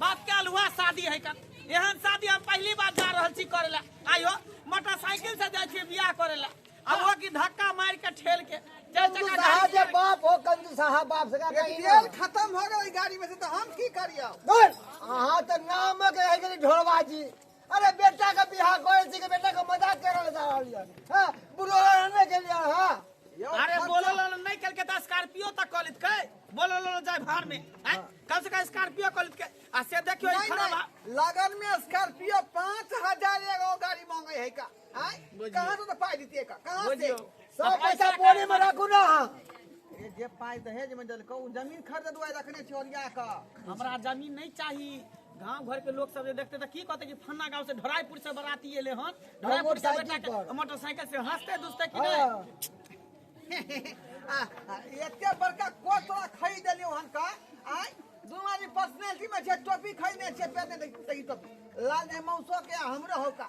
बात कल हुआ शादी है का एहन शादी हम पहली बार जा रहल छी करे ला आयो मोटरसाइकिल से जाय छी बियाह करे ला अब वो की धक्का मार के ठेल के चार कंजू चक्का साहा गाड़ी जे के- बाप हो कंजू साहा बाप से का कहीं तेल खत्म हो गई गाड़ी में से तो हम की करियो बोल अहाँ तऽ नामक रहि गेली ढोलबाजी अरे बेटा का बियाह करे छी के बेटा का मजाक कर रहल जा रहल है हां बुलो रहने के लिए हां अरे बोलो लो नहीं कल के तो स्कॉर्पियो तक कॉलेज के बोलो लो जाए भार में हैं? कल से का स्कॉर्पियो कॉलेज के आ से देखियो ई नहीं खराब नहीं लगन में स्कॉर्पियो 5000 एगो गाड़ी मांगे है का कहाँ से पाई दीतिए का कहाँ से सब पैसा बोरे में रखू ना ये जे पाई दहेज में देलको उ जमीन खरीद दुआ रखने छी ओरिया का हमरा जमीन नहीं चाहिए गांव घर के लोग सब जे देखते त की कहते कि फन्ना गांव से ढोराईपुर से बराती एले हन ढोराईपुर से मोटरसाइकिल बैठा के पर। मोटरसाइकिल से हंसते दुसते कि नहीं हाँ। आ, आ, एते बड़का कोट तोरा खरीद देलियो हन का आय दू आदमी पर्सनैलिटी में छै टोपी खरीदने छै पहने देखी टोपी लाल ने मौसो के आ हमरो हो का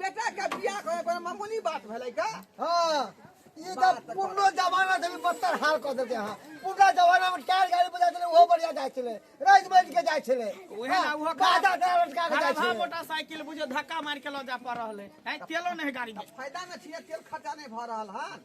बेटा के बियाह करे कोनो मामूली बात भेलै का हाँ ई त पुरनो जमाना से भी बत्तर हाल कऽ देते अहाँ पुरना जमाना में टायर गाड़ी बजा छलै ओहो बढ़िया जाइ छलै राजि बाजि के जाइ छलै उहे ना, उहो हाँ, गादा गादा लटका के जाइ खराब छलै मोटरसाइकिल बुझियो धक्का मार के लऽ जा पड़ रहले हैं तेलो नहीं गाड़ी में फायदा न छियै तेल खर्चा नहि भऽ रहल हन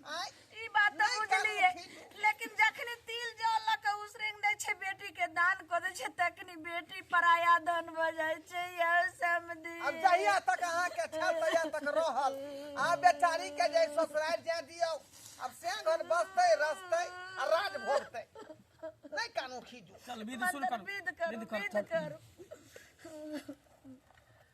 ई बात तऽ बुझलियै लेकिन जखने तिल जल लऽ कऽ उसरेंग दै छै बेटी के दान कऽ दै छै तखनी बेटी पराया धन भऽ जाइ छै यौ समधी अब जहिया तक अहाँ के छल तहिया तक रहल आ बेचारी के जे ससुराल जाय दियो अब से घर बसते रसते आ राज भोगते नहीं कानू खीजू चल विध सुन कर मतलब विध करू विध कर विध चल। करू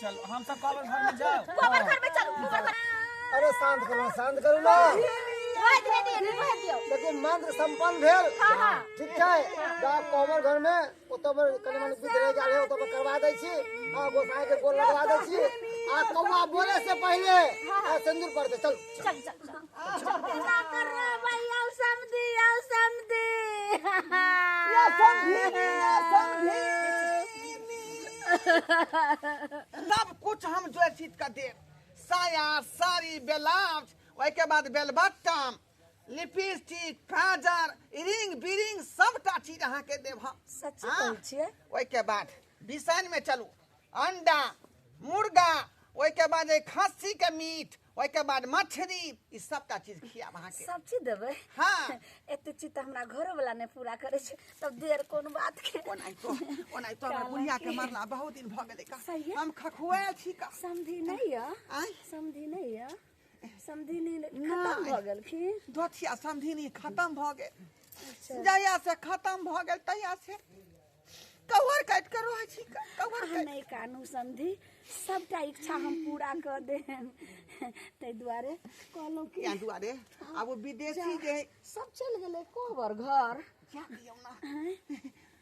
चल हम सब कवर घर में जाओ गोबर घर में चलू गोबर घर अरे शांत करो शांत करो ना रोए दे दे रोए दियो लेकिन मंत्र संपन्न भेल हां हां ठीक छै जा कवर घर में ओतऽ पर कने मने विध रह गेल है ओतऽ पर करवा दै छी आ गोसाई के गोल लगवा दै छी आ कौआ बोले से पहले आ सिंदूर पड़ते चल चल चल चल सब कुछ हम जोशीत का देव साया साड़ी ब्लाउज ओहि के बाद बेलबट्टम लिपस्टिक काजर इरिंग बिरिंग सबटा चीज अहाँ के देव हम सच हाँ। कहै छियै ओहि के बाद बिसन में चलू अंडा मुर्गा ओहि के बाद ए खस्सी के मीट ओहिके बाद मछरी ई सबटा चीज खियाब अहाँके सब चीज देबै हाँ। एते चीज तऽ हमरा घरो वाला नहि पूरा करै छै तब देर कोन बात के ओनाहितो ओनाहितो हमरा काला बुढ़िया के के। मरला बहुत दिन भऽ गेलै का सही है। हम खखुआएल छी का समधी नहि यऽ आँय? समधी नहि यऽ समधी नहि खतम नहि। भऽ गेलखिन दोथिया समधिनी खत्म भऽ गेल जहिया से खत्म भऽ गेल तहिया से कवर काटि कऽ रहै छी क- कवर अहाँ नहि कानू समझी सबटा इच्छा हम पूरा कऽ देम ताहि दुआरे कहलहुँ कि इएह दुआरे आब ओ विदेशी जे है, सब चलि गेलै कोबर घर जा दियौ ना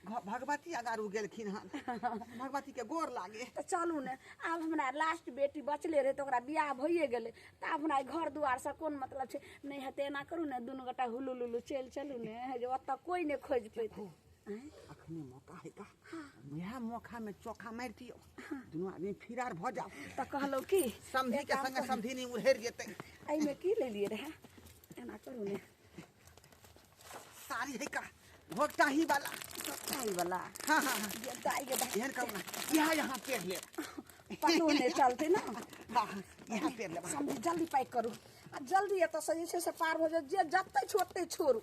घ- भगवती अगारू गेलखिन हन भगवती के गोर लागे तऽ चलू ने आब हमरा लास्ट बेटी बचले रहै तऽ ओकरा बियाह भइए गेलै तऽ आब हमरा ई घर दुआरसँ कोन मतलब छै नहि हेतै एना करू ने दुनू गोटा हुलू लुलू चलि चलू ने जे ओतऽ कोइ नहि खोजि पेतै अखने मौका है का वएह मौका में चौका मार दियो दोनों आदमी फिरार भ जाओ तो कहलो की समधी के संगे समधी नहीं उड़ेर जेते आई में की ले लिए रहा एना करू ने सारी है का घोटा ही वाला सताई वाला हाँ हाँ हाँ ये दाई के दाई एहन करू ना यहाँ यहाँ पेड़ ले पकड़ो ने चलते ना हाँ हाँ, यहाँ पेड़ ले समझी जल्दी पैक करू आ जल्दी एतऽ से जे छै से पार भऽ जाउ जे जतै छोड़तै छोड़ू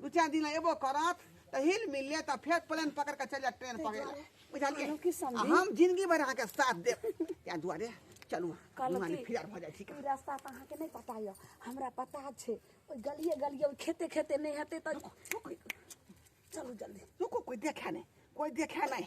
दू चार दिन एबो करत तो हिल मिल ले तो फिर प्लेन पकड़ के चल जा ट्रेन पकड़ ले बुझल के की समझी? आ हम जिंदगी भर अहाँ के साथ दे या दुआरे चलू कहलहुँ दुआरे कि- फिर भऽ जाए ठीक ई रास्ता तऽ अहाँके नहि पता यऽ हमरा पता छै ओहि गलिए गलिए ओहि खेते खेते नहि हेतै तऽ चलू जल्दी रुको कोई देखा नहीं कोई देखा नहीं